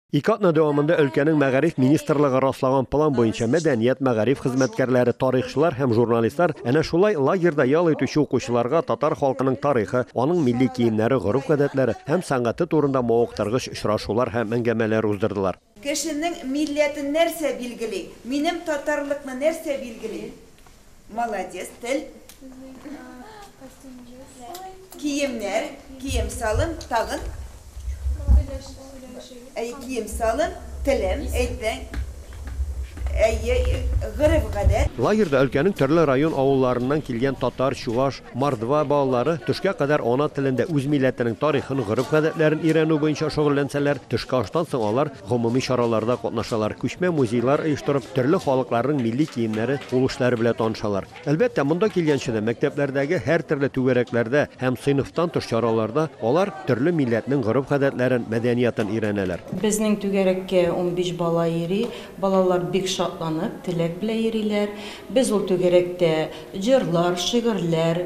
Ике атна дәвамында өлкәнең мәгариф министрлыгы раслаган план буенча мәдәният, мәгариф хезмәткәрләре, тарихчылар һәм журналистлар әнә шулай лагерьда ял итүче укучыларга татар халкының тарихы, аның милли киемнәре, гореф-гадәтләре һәм сәнгате турында мавыктыргыч очрашулар һәм әңгәмәләр уздырдылар. Кешенең милләтен нәрсә билгели? Минем татарлыкны нәрсә билгели? Молодец, тел. Киемнәр, кием салым, тагын. Әй, кием салым, телем, әйтең. Әйе, гырыф гадәт. Лагерьда өлкәнең төрле район авылларыннан килгән татар, чуваш, мордва балалары төшкә кадәр ана телендә үз милләтенең тарихын, гореф-гадәтләрен өйрәнү буенча шөгыльләнсәләр, төшке аштан соң алар Гомуми чараларда катнашалар, күчмә музейлар оештырып, төрле халыкларның милли киемнәре, кул эшләре белән танышалар. Әлбәттә, монда килгәнче дә, мәктәпләрдәге һәртөрле түгәрәкләрдә һәм сыйныфтан тыш чараларда алар төрле милләтнең гореф-гадәтләрен, мәдәниятын өйрәнәләр. Безнең түгәрәккә унбиш бала йөри. Балалар бик шатланып, теләк белән йөриләр. Без ул түгәрәктә җырлар, шигырьләр,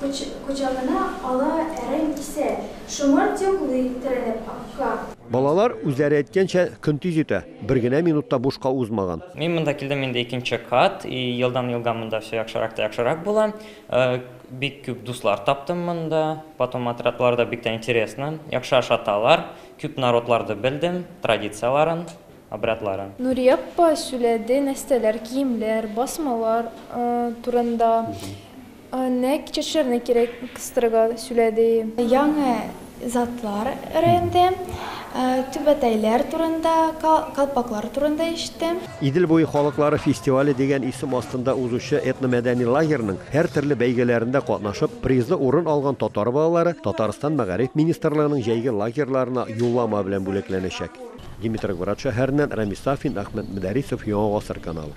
Кочагына ала әрәм исә. Шомарт йоклый, терәлеп акка. Балалар үзләре әйткәнчә, көн тиз үтә, бер генә минут та бушка узмаган. Мин монда килдем инде икенче кат, и елдан-елга монда все яхшырак та яхшырак була. Бик күп дуслар таптым монда, потом отрядларда бик тә интересно, яхшы ашаталар, күп народларды белдем, традицияләрен. обрядлары. Нурия апа сүләде нәстәләр, киемләр, басмалар турында. Нәкъ чәчләрне кирәк кыстырырга сүләде. Яңа затлар рәнде, түбәтәйләр турында, калпаклар турында ишетте. Идел буе халыклары фестивале дигән исем астында узучы этномәдәни лагерьның һәртөрле бәйгеләрендә катнашып, призлы урын алган татар балалары Татарстан Мәгариф министрлыгының җәйге лагерьларына юллама белән бүләкләнәчәк. Димитроград шәһәреннән Рамис Сафин, Әхмәт Мөдәрисов, Яңа гасыр каналы.